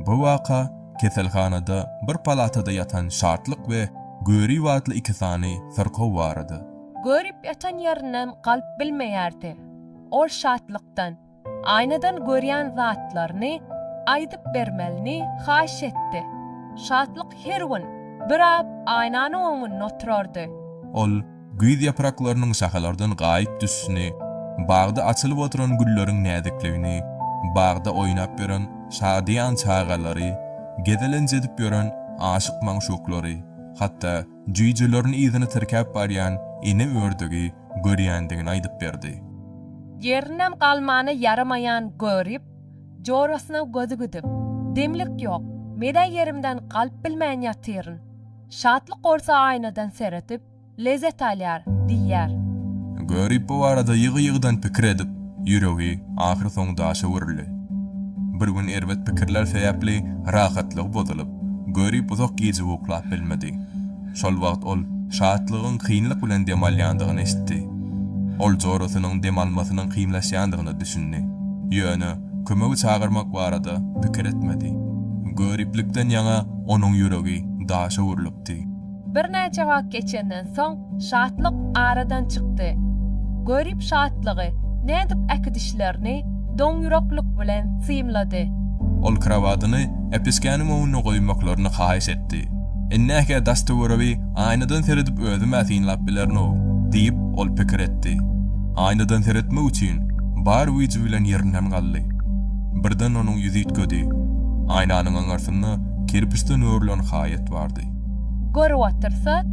Bu waka keselhanada bir palatada ýatan Şatlyk we Görip atly iki sany syrkaw barada. Görip ýatan ýerinden galyp bilmeýärdi. Ol Şatlykdan, aýnadan görýän zatlaryny aýdyp bermelini haýyş etdi. Şatlyk her gün bir ap aýnanyň oňunda oturardy. Ol. Güýz ýapraklarynyň şahalardan gaýyp düşüşini, bagda açylyp oturan gülleriň näzikligini, bagda oýnap ýören şadyýan çagalary, gezelenç edip ýören aşyk-magşuklary, hatda jüýjelerini yzyna tirkäp barýan ene ördügi görýändigini aýdyp berdi. Ýerinem galmana ýaramaýan Görip, jorasyna gözi gidip, Demlik ýok, men-ä ýerimden galyp bilmän ýatyryn. Şatlyk bolsa aýnadan seredip, Lezzet alýar, diýýär. Görip bu barada ýygy-ýygydan pikir edip, ýüregi ahyr soň daşa öwrüldi. Bir gün erbet pikirler sebäpli rahatlygy bozulyp, Görip uzak gije uklap bilmedi. Şol wagt ol Şatlygyň kynlyk bilen dem alýandygyny eşitdi. Ol jorasynyň dem almasynyň kynlaşýandygyna düşündi. Ýöne kömegi çagyrmak barada pikir etmedi. Göriplikden ýaňa onuň ýüregi daşa öwrülipdi. Birnäçe wagt geçenden soň Şatlyk aradan çykdy. Görip Şatlygy nädip äkidişlerini doňýüreklik bilen synlady. Ol krowadyny Äpişgäniň öňünde goýmaklaryny haýyş etdi. Indi-hä daş-töweregi aýnadan seredip özüm-ä synlap bilerin-ow, diýip, ol pikir etdi. Aýnadan seretmek üçin bar güýji bilen ýerinden galdy. Birden onuň ýüzi üýtgedi. Aýnanyň aňyrsynda kerpiçden örülen haýat bardy. Görüp otyrsa,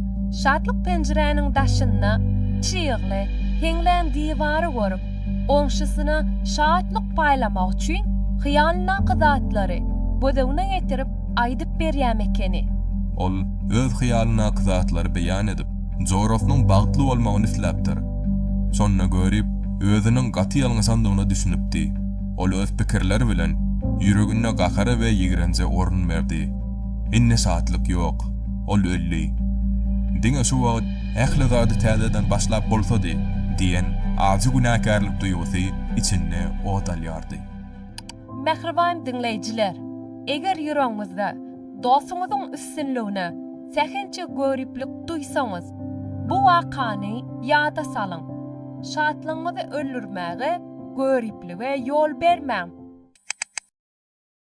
Şatlyk penjiräniň daşynda çygly, heňlän diwary görüp, goňşusyna şatlyk paýlamak üçin hyýalyndaky zatlary gözegine getirip aýdyp berýäm ekeni. Ol öz hyýalyndaky zatlary beýan edip, jorasynyň bagtly bolmagyny isläpdir. Şonda Görip özüniň gaty ýalňyşandygyna düşünipdi. Ol öz pikirleri bilen ýüreginde gahara we ýigrenje orun berdi. Indi şatlyk ýok. Ol öldi. Diňe şu wagt ähli zady täzeden başlap bolsady diýen ajy günäkärlik duýgusy içinde ot alýardy. Mähriban diňleýjiler, eger ýüregiňizde dostuňyzyň üstünligine sähelçe göriplik duýsaňyz, bu wakany ýada salyň. Şatlygyňyzy öldürmäge, göriplige ýol bermäň.